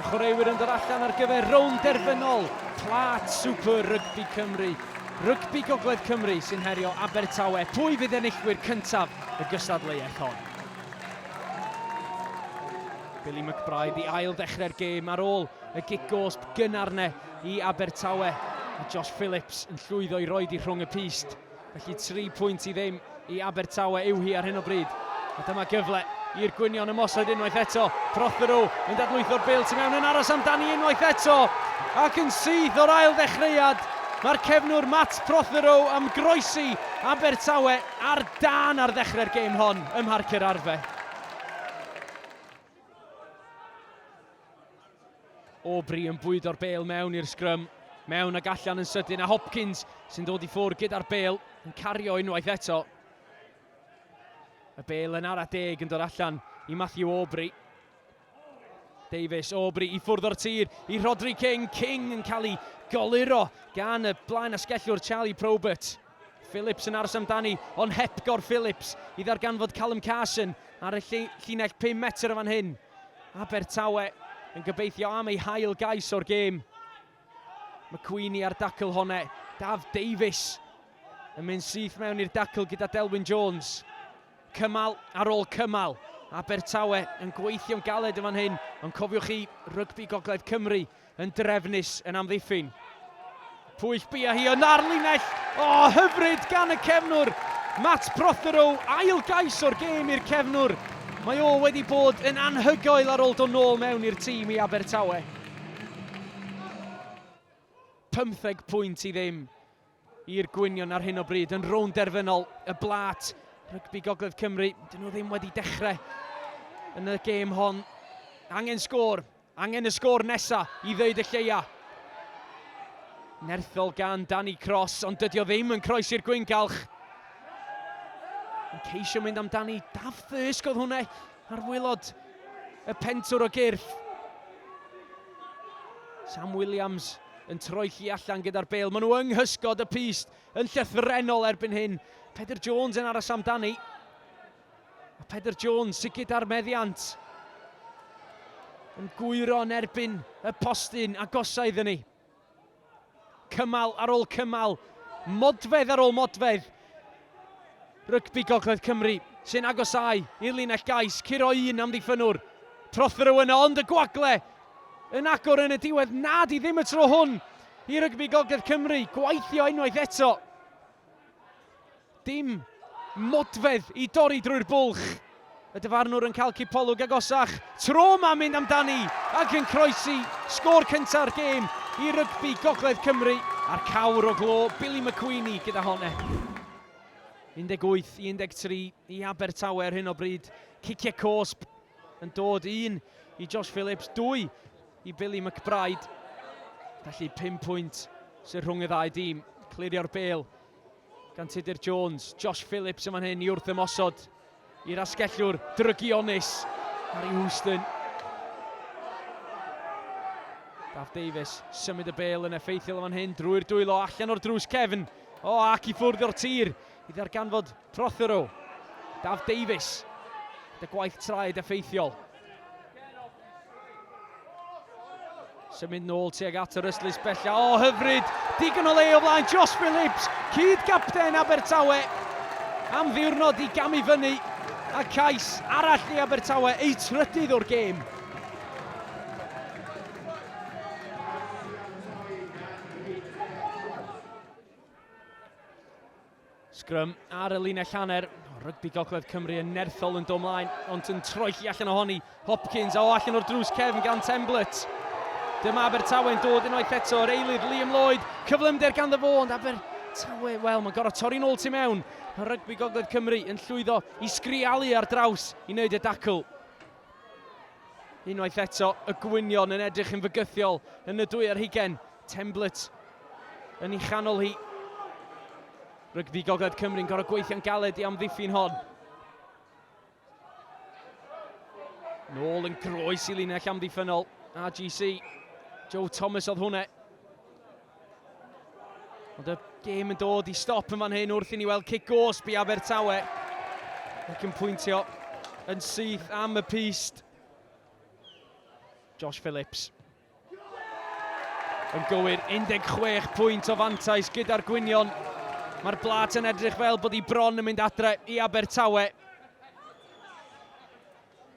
Y chwaraewyr yn dod allan ar gyfer rownd derfynol Plat Super Rygbi Cymru. Rygbi Gogledd Cymru sy'n herio Abertawe. Pwy fydd enillwyr cyntaf y gystadleuaeth hon? Billy McBride i ail ddechrau'r gêm ar ôl y gig gosb gynnar ne i Abertawe. Mae Josh Phillips yn llwyddo i roed i rhwng y pist. Felly tri pwynt i ddim i Abertawe yw hi ar hyn o bryd. A dyma gyfle i'r gwynion ymosod unwaith eto. Prothero yn dadlwytho'r bil tu mewn yn aros amdani unwaith eto. Ac yn syth o'r ail ddechreuad, mae'r cefnwr Matt Prothero am groesi Abertawe ar dân ar ddechrau'r gêm hon ym Mharc yr Arfe. Aubrey yn bwydo'r bel mewn i'r sgrym. Mewn ag allan yn sydyn a Hopkins sy'n dod i ffwrdd gyda'r bel yn cario unwaith eto. Y bel yn ara deg yn dod allan i Matthew Aubrey. Davies, Aubrey i ffwrdd o'r tir i Rodri King. King yn cael ei goluro gan y blaen asgellwr Charlie Probert. Phillips yn aros amdani, ond hepgor Phillips i ddarganfod Callum Carson ar y llinell 5 metr o fan hyn. Abertawe yn gobeithio am ei hail gais o'r gêm. McQueenie ar dacl hone. Daf Davies yn mynd syth mewn i'r dacl gyda Delwyn Jones. Cymal ar ôl cymal. Abertawe yn gweithio'n galed yn fan hyn, ond cofiwch chi, rygbi Gogledd Cymru Yn drefnus, yn amddiffyn. Pwyll bia hi yn ar linell. O, oh, hyfryd gan y cefnwr. Matt Prothero, ail gais o'r gêm i'r cefnwr. Mae o wedi bod yn anhygoel ar ôl dod nôl mewn i'r tîm i Abertawe. 15 pwynt i ddim. i'r gwynion ar hyn o bryd yn rownd derfynol y blat rygbi Gogledd Cymru. Dyn nhw ddim wedi dechrau yn y gêm hon. Angen sgôr, angen y sgôr nesa i ddeud y lleia. Nerthol gan Danny Cross, ond dydy o ddim yn croes i'r gwyngalch. Yn ceisio mynd amdani, Daf Thysg oedd hwnna ar wylod y pentwr o gyrff. Sam Williams yn troelli allan gyda'r bêl. Maen nhw yng nghysgod y pyst yn llythrenol erbyn hyn. Pedr Jones yn aros amdani. A Pedr Jones sy'n gyda'r meddiant. Yn gwyro yn erbyn y postyn agosau iddyn ni. Cymal ar ôl cymal, modfedd ar ôl modfedd. Rygbi Gogledd Cymru sy'n agosáu i'r linell gais curo un amddiffynnwr. Trothryw yno ond y gwagle yn agor yn y diwedd nad i ddim y tro hwn i Rygbi Gogledd Cymru gweithio unwaith eto. Dim modfedd i dorri drwy'r bwlch. Y dyfarnwr yn cael cipolwg agosach. Tro yma mynd amdani ac yn croesi sgôr cynta'r gêm i Rygbi Gogledd Cymru a'r cawr o glo Billy McQueenie gyda hon e. 18 i 13 i Abertawe ar hyn o bryd. Ciciau cosb yn dod un i Josh Phillips, dwy i Billy McBride. Felly 5 pwynt sy'n rhwng y ddau dîm. Clirio'r bel gan Tudur Jones. Josh Phillips yn fan hyn i wrth ymosod. I'r asgellwr drygionus, Harry Houston. Gaf Davies symud y bel yn effeithiol yn fan hyn drwy'r dwylo allan o'r drws cefn. O, oh, ac i ffwrdd o'r tir i ddarganfod Prothero. Daf Davies. Dy gwaith traed effeithiol. Symud nôl tuag at yr ystlys bella. O, hyfryd! Digon o le o flaen Josh Phillips, cyd gapten Abertawe. Am ddiwrnod i gamu fyny a cais arall i Abertawe eu trydydd o'r gêm. Sgrym ar y linell hanner, rygbi gogledd Cymru yn nerthol yn do mlaen, ond yn troelli allan ohoni. Hopkins a o allan o'r drws cefn gan Temblett. Dyma Abertawe'n dod unwaith eto, yr eilydd Liam Lloyd, cyflymder ganddo fo, ond Aber Tawe, wel, mae'n gorau torri'n ôl tu mewn. Mae rygbi gogledd Cymru yn llwyddo i sgrialu ar draws i wneud y dacl. Unwaith eto, y gwynion yn edrych yn fygythiol yn y dwy ar hugen. Temblett yn ei chanol hi. Rygbi Gogledd Cymru'n gorau gweithio'n galed i amddiffyn hon. Nôl yn groes i linell amddiffynol RGC. Joe Thomas oedd hwnna. Ond y gêm yn dod i stop yn fan hyn wrth i ni weld cic gosb i Abertawe. Ac yn pwyntio yn syth am y pist. Josh Phillips. Yn gywir, 16 pwynt o fantais gyda'r gwynion. Mae'r blat yn edrych fel bod hi bron yn mynd adre i Abertawe.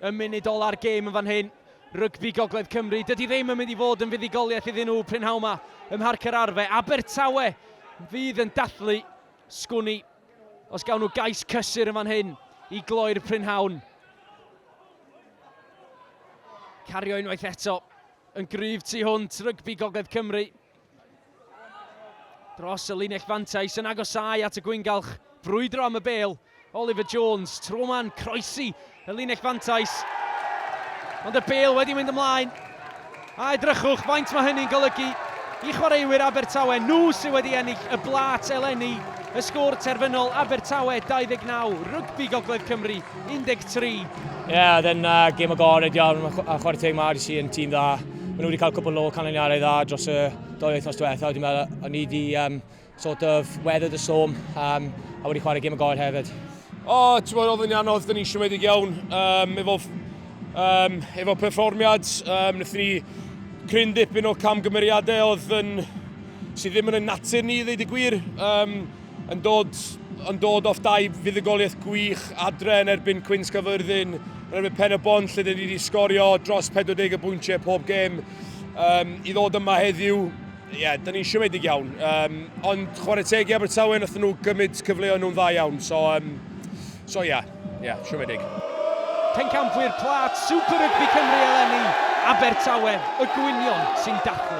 Y munud ola'r gêm yn fan hyn, Rygbi Gogledd Cymru, dydy ddim yn mynd i fod yn fuddugoliaeth iddyn nhw prynhawn 'ma ym Mharc yr Arfe. Abertawe fydd yn dathlu sgwni os gawn nhw gais cysur yn fan hyn i gloi'r prynhawn. Cario unwaith eto yn gryf tu hwnt Rygbi Gogledd Cymru. Dros y linell fantais yn agosau at y gwyngalch, brwydro am y bel. Oliver Jones, tro ma'n croesi y linell fantais. Ond y bel wedi mynd ymlaen. A edrychwch faint mae hynny'n golygu i chwaraewyr Abertawe. Nhw sydd wedi ennill y blat eleni. Y sgôr terfynol Abertawe 29, Rygbi Gogledd Cymru 13. Ie, oedd e'n uh, gêm agored iawn, a chwarae teg mae RDC yn tîm dda. Maen nhw wedi cael cwpl o canlyniadau dda dros y doi wythnos diwetha, wedi meddwl, o'n i wedi um, sort of weathered y storm, um, a wedi chwarae gêm agored hefyd. O, oh, ti'n bod, oedd yn anodd, dyn ni'n siomedig iawn, um, efo, um, efo perfformiad, um, wnaethon ni cryn dipyn o camgymeriadau oedd yn, sydd ddim yn y natur ni, ddeud y gwir. Um, Yn dod, yn dod off dau fuddugoliaeth gwych adre yn erbyn Cwyn Sgafyrddin, yn erbyn Pen y Bont lle dyn ni wedi sgorio dros 40 o bwyntiau pob gêm. Um, I ddod yma heddiw, ie, yeah, dyn ni'n siomedig iawn. Um, ond chwarae teg i Abertawe, nath nhw gymryd cyfleoedd nhw'n dda iawn. So, um, so ie, yeah, ie, yeah, siomedig. Pencampwyr plat Super Rygbi Cymru eleni, Abertawe, y gwynion sy'n dathlu.